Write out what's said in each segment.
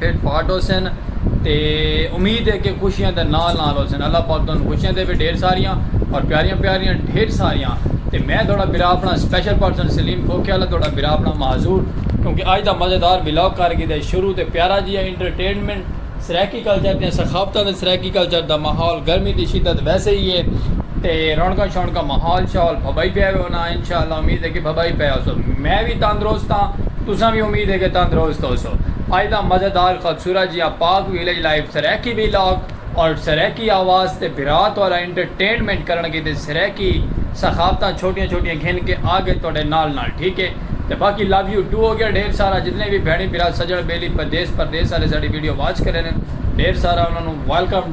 ہیٹھ part ہوسن تے امید ہے کہ خوشیاں دے نال نال ہوسن اللہ پاک تہانوں خوشیاں دے وے ڈھیر ساریاں اور پیاریاں پیاریاں ڈھیر ساریاں تے میں تہاڈا بھرا اپنا سپیشل پرسن سلیم کھوکھے والا تہاڈا بھرا اپنا معذور کیونکہ اج دا مزیدار ولاگ کر گھدا ہے شروع تے پیارا جیا انٹرٹینمنٹ سرائیکی کلچر دیاں ثقافتاں تے سرائیکی کلچر دا ماحول گرمی دی شدت ویسے ہی ہے تے رونقاں شونقاں ماحول شاحول بھبائی پیا ہوے ہونا انشاءاللہ امید ہے کہ بھبائی پیا ہوسو میں وی تندرست ہاں تساں وی امید ہے کہ تندرست ہوسو۔ اڄ دا مزیدار خبصورت جیاں park village live Saraiki vlog اور سرائیکی آواز تے بھرا تہاڈا انٹرٹینمنٹ کرݨ کیتے سرائیکی ثقافتاں چھوٹیاں چھوٹیاں گھن کے آگے تہاڈے نال نال ٹھیک ہے تے باقی لو یو ٹو ہوگیا ڈھیر سارا جتنے وی بھیݨیں بھرا سجݨ بیلی پردیس پردیس آلے ساڈی ویڈیو واچ کریندن ڈھیر سارا انہاں نوں ویلکم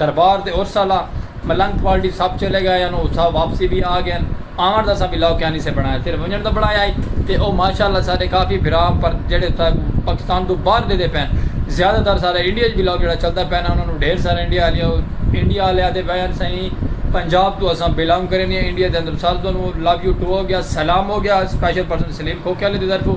دربار تے عرس آلا ملنگ پھال ڈی سب چلے گئے ہن اتھاں واپسی وی آ گئے ہن آون دا اساں بلاگ کیاں نی سے بنڑایا صرف ونجن دا بنڑایا ہئی تے او ماشاءاللہ سارے کافی بھرا پر جیڑھے اتھاں پاکستان توں باہر دیدے پئے ہن زیادہ تر سارا انڈیا اچ بلاگ جیڑھا چلدا پئے نا انہاں نوں ڈھیر سارا انڈیا آلیا انڈیا آلے آدے پئے ہن سائیں پنجاب توں اساں بلانگ کرینے آں انڈیا دے اندر سارے تانوں لو یو ٹو ہو گیا سلام ہو گیا سپیشل پرسن سلیم کھوکھے آلے دی طرفوں۔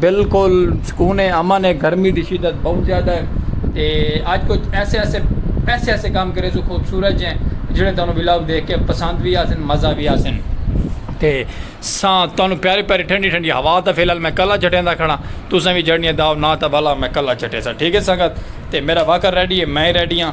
بالکل سکون ہے امن ہے گرمی دی شدت بہت زیادہ ہے تے اج کچھ ایسے ایسے ایسے ایسے کام کرے سو خوبصورت جیں جڑے تانوں ولاگ دیکھ کے پسند بھی آسن مزہ بھی آسن تے ساں تانوں پیاری پیاری ٹھنڈی ٹھنڈی ہوا تا فی الحال میں کلا جھٹیں دا کھڑا تساں بھی جڑنی داو نہ تا بھلا میں کلا جھٹے سا ٹھیک ہے سنگت تے میرا واکر ریڈی ہے میں ریڈی ہاں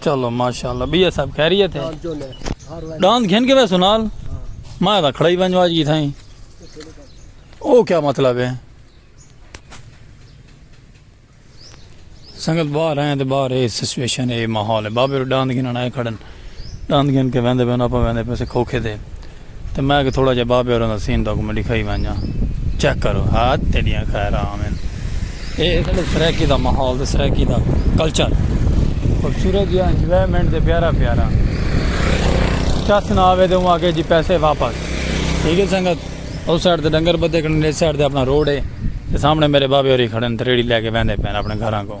چلو ماشاءاللہ بیا صاحب خیریت ہے ڈاند گھن کے ویسو نال میں دا کھڑائی بنجو آج کی تھائیں او کیا مطلب ہے سنگت باہر ہیں تو باہر ہے سسویشن ہے ماحول ہے بابے رو ڈاند گھن آئے کھڑن ڈاند گھن کے ویندے بینو اپا ویندے پیسے کھوکھے دے تے میں آکھیا تھوڑا جیہا بابے ہوراں دا سین تہاکوں میں ݙکھائی ونڄاں چیک کرو ہا تیݙیاں خیراں آون اے اساݙے سرائیکی دا ماحول تے سرائیکی دا کلچر خوبصورت جیہا انجوائمنٹ تے پیارا پیارا چس نہ آوے تے اوں آکھے جی پیسے واپس ٹھیک ہے سنگت اس سائیڈ تے ڈنگر بدھے کھڑن اس سائیڈ تے اپنا روڈ ہے تے سامنے میرے بابے ہوری کھڑن تے ریڑھی لے کے ویندے پئن اپنے گھراں کو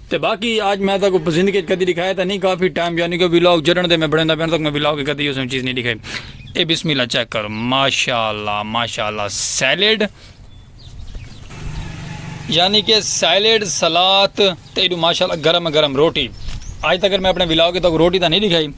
تے باقی آج میں تہاکوں زندگی اچ کدی ڈکھایا تاں نی کافی ٹائم یعنی کہ ولاگ جڈن دے میں بنڑیندا پیا تاں میں ولاگ اچ کدی اوسوں چیز نی ڈکھائی اے بسم اللہ چیک کر ماشاءاللہ ماشاءاللہ سیلیڈ یعنی کہ سیلیڈ سلاد تے ایڈو ماشاءاللہ گرم گرم روٹی آج تک میں اپنے ولاگ اچ تہاکوں روٹی تاں نی ڈکھائی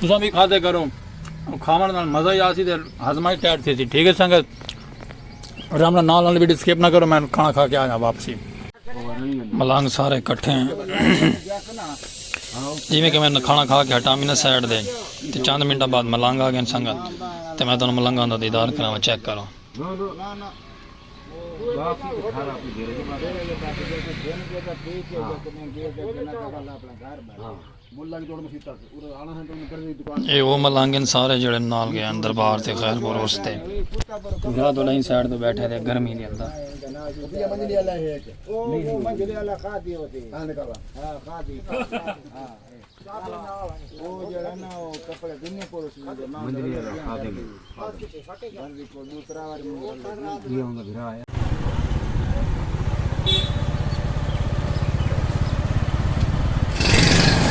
تساں وی کھادے کرو کھاون نال مزہ ہی آسی تے ہضمہ ہی ٹائٹ تھیسی ٹھیک ہے سنگت رام نال نال نال ویڈیو سکپ نہ کرو میں کھانا کھا کے آ جاں واپسی ملانگ سارے کٹھے ہیں جویں کہ میں کھانا کھا کے ہٹا میں سائڈ دے تے چند منٹاں بعد ملانگ آ گئے سنگت تے میں تانوں ملانگاں دا دیدار کراواں چیک کرو اے او ملنگ ہن سارے جیڑھے نال گئے ہن دربار تے خیر پروس تے۔ گھوڑا توں ݙہیں سائیڈ توں ٻیٹھے تے گرمی دے اندر۔ منجلے آلا خادم۔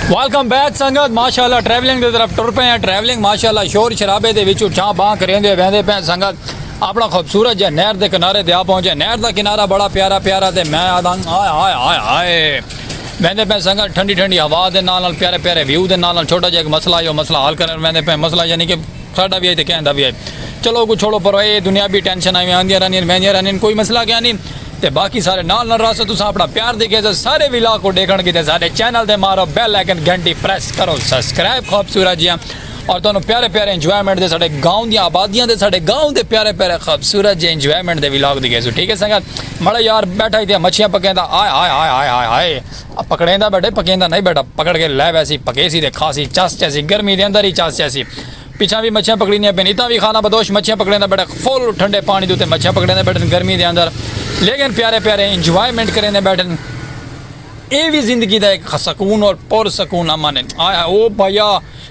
ویلکم بیک سنگت ماشاءاللہ ٹریولنگ دے طرف ٹر پے ہیں ٹریولنگ ماشاءاللہ شور شرابے دے وچوں چھاں باں کریندے ویندے پے سنگت اپنا خوبصورت جے نہر دے کنارے تے آ پہنچے نہر دا کنارہ بڑا پیارا پیارا تے میں آدھاں ہائے ہائے ہائے ہائے ویندے پے سنگت ٹھنڈی ٹھنڈی ہوا دے نال نال پیارے پیارے ویو دے نال نال چھوٹا جے ایک مسئلہ ہے مسئلہ حل کرن ویندے پے مسئلہ یعنی کہ ساڈا وی ہئی تے کہیں دا وی ہئی۔ چلو اوکوں چھوڑو پرو اے دنیابی ٹینشناں ایویں آندیاں رہندین ویندیاں رہندین کوئی مسئلہ کیا نی تے باقی سارے نال نال رہسو تساں اپنا پیار دی گھیسو سارے ولاگ کوں ڈیکھن کیتے ساڈے چینل تے مارو بیل آئیکن گھنٹی پریس کرو سبسکرائب خوبصورت جیاں اور تہانوں پیارے پیارے انجوائمنٹ دے ساڈے گاؤں دیاں آبادیاں دے ساڈے گاؤں دے پیارے پیارے خوبصورت جے انجوائمنٹ دے ولاگ دی گھیسو ٹھیک ہے سنگت مڑا یار بیٹھا ہئی تے مچھیاں پکیندا ہائے ہائے ہائے ہائے ہائے ہائے۔ او پکڑیندا ٻڈے پکیندا نئیں ٻڈا پکڑ کے لے ویسی پکیسی تے کھاسی چس چیسی گرمی دے اندر ای چس چیسی پچھاں وی مچھیاں پکڑیندیاں پئین اتاں وی خانہ بدوش مچھیاں پکڑیندا ٻڈے فل ٹھنڈے پانی دے اتے مچھیاں پکڑیندے ٻڈن گرمی دے اندر لیکن پیارے پیارے انجوائمنٹ کریندے ٻڈن اے وی زندگی دا ہک سکون اور پر سکون امن ہن ہائے ہائے او بھائیا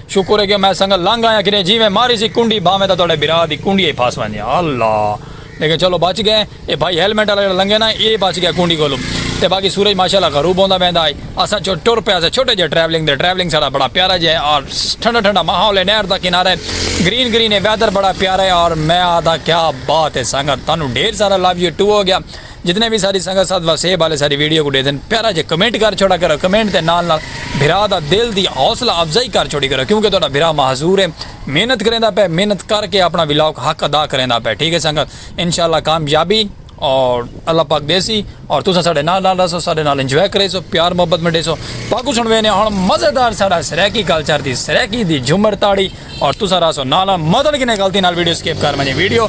شکر ہے کہ میں سنگل لنگ آیاں کیتے جیویں ماری سی کنڈی بھاویں تاں تہاڈے بھرا دی کنڈی ای پھس ویندی اللہ لیکن چلو بچ گئے اے بھائی ہیلمٹ والا جڑا لنگے نا اے بچ گیا کونڈی کولو تے باقی سورج ماشاءاللہ غروب ہوندا ویندا ہے اساں ٹر پے اساں چھوٹے جے ٹریولنگ تے ٹریولنگ ساڈا بڑا پیارا جے اور ٹھنڈا ٹھنڈا ماحول ہے نہر دا کنارہ ہے گرین گرین ہے ویدر بڑا پیارا ہے اور میں آدا کیا بات ہے سنگت تانو ڈھیر سارا لو یو ٹو ہو گیا جتنے بھی ساری سنگت ساتھ وسے والے ساری ویڈیو کو دے دین پیارا جے کمنٹ کر چھوڑا کرو کمنٹ تے نال نال بھرا دا دل دی حوصلہ افزائی کر چھوڑی کرو کیونکہ تہاڈا بھرا معذور ہے محنت کریندا پئے محنت کر کے اپنا ولاگ حق ادا کریندا پئے ٹھیک ہے سنگت انشاءاللہ کامیابی اور اللہ پاک دیسی اور تساں ساڈے نال نال رہسو ساڈے نال انجوائے کریسو پیار محبت منڈیسو باقو سن وینے ہن مزیدار ساڈا سرائیکی کلچر دی سرائیکی دی جھمر تاڑی اور تساں رہسو نال نال مدن کنے غلطی نال ویڈیو سکپ کر ونجے ویڈیو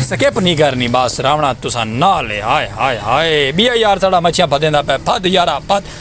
سکپ نہیں کرنی بس راونا تساں نال ہائے ہائے ہائے بیا یار ساڈا مچھیاں پھدیندا پئے پھد یارا پھد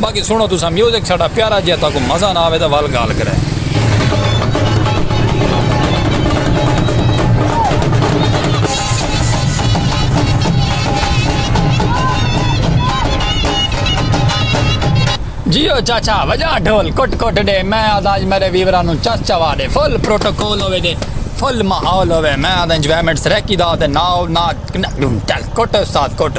باقی سنڑو تساں میوزک ساڈا پیارا جیہا تہاکوں مزہ نہ آوے تاں ول گالھ کرے۔ جیو چاچا وجا ڈھول کٹ کٹ ڈے میں آدا اج میرے ویورا نو چس چوا ڈے فل پروٹوکول ہوے تے فل ماحول ہوے میں آدا انجوائمنٹ سریکی دا تے ناؤ نا کٹ استاد کٹ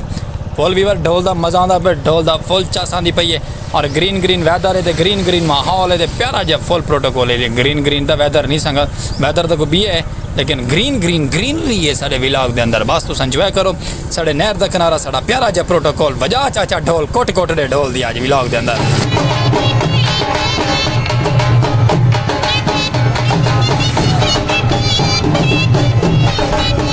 فل ویور ڈھول دا مزہ آندا پئے ڈھول دا فل چس آندی پئی اے اور گرین گرین ویدر اے تے گرین گرین ماحول اے تے پیارا جیا فل پروٹوکول اے گرین گرین تاں ویدر نی سنگت ویدر تاں کوئی بیا اے لیکن گرین گرین گرینری اے ساڈے ولاگ دے اندر بس تساں انجوائے کرو ساڈے نہر دا کنارہ ساڈا پیارا جیا پروٹوکول وجا چاچا ڈھول کٹ کٹ ڈے ڈھول دی اج ولاگ دے اندر۔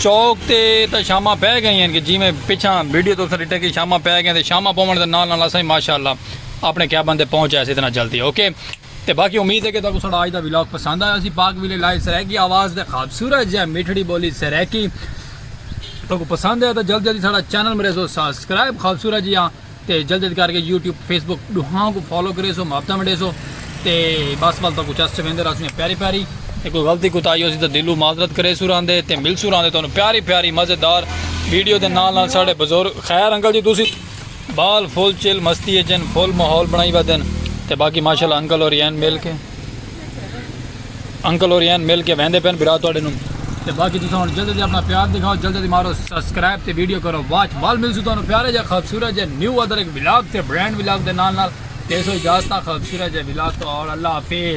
چوک تے تاں شاماں پے گئیں ہن کہ جیویں پچھاں ویڈیو تساں ڈٹے کہ شاماں پے گئیں تے شاماں پوونڑ دے نال نال اساں وی ماشاءاللہ اپنڑے کیبن تے پہنچ آئیسی اتنا جلدی اوکے تے باقی امید ہے کہ تہاکوں ساڈا اج دا ولاگ پسند آیا ہوسی پاک ویلے لائیو سرائیکی آواز تے خوبصورت جے میٹھڑی بولی سرائیکی تہاکوں پسند آیا تے جلدی جلدی ساڈا چینل مریسو سبسکرائب خوبصورت جیاں تے جلد جلد کر کے یوٹیوب فیس بک ڈوہاں کو فالو کرے سو محبتہ مڈے سو تے بس بل تو کچھ اس چویندے رہا سو پیاری پیاری تے کوئی غلطی کو تائی ہو سی تو دلو معذرت کرے سو رہن دے تے مل سو رہن دے تو پیاری پیاری مزیدار ویڈیو دے نال نال ساڑے بزرگ خیر انکل جی تسی بال فل چل مستی اچن فل ماحول بنائی ودن تے باقی ماشاءاللہ انکل اور یین مل کے انکل اور یین مل کے ویندے پین برا تواڈے نوں تے باقی تساں ہن جلدی جلدی اپنا پیار دکھاؤ جلدی جلدی مارو سبسکرائب تے ویڈیو کرو واچ وال ملسو تانوں پیارے جے خوبصورت جے نیو ادر ایک ولاگ تے برانڈ ولاگ دے نال نال تے سو اجازت خوبصورت جے ولاگ تو اور اللہ حافظ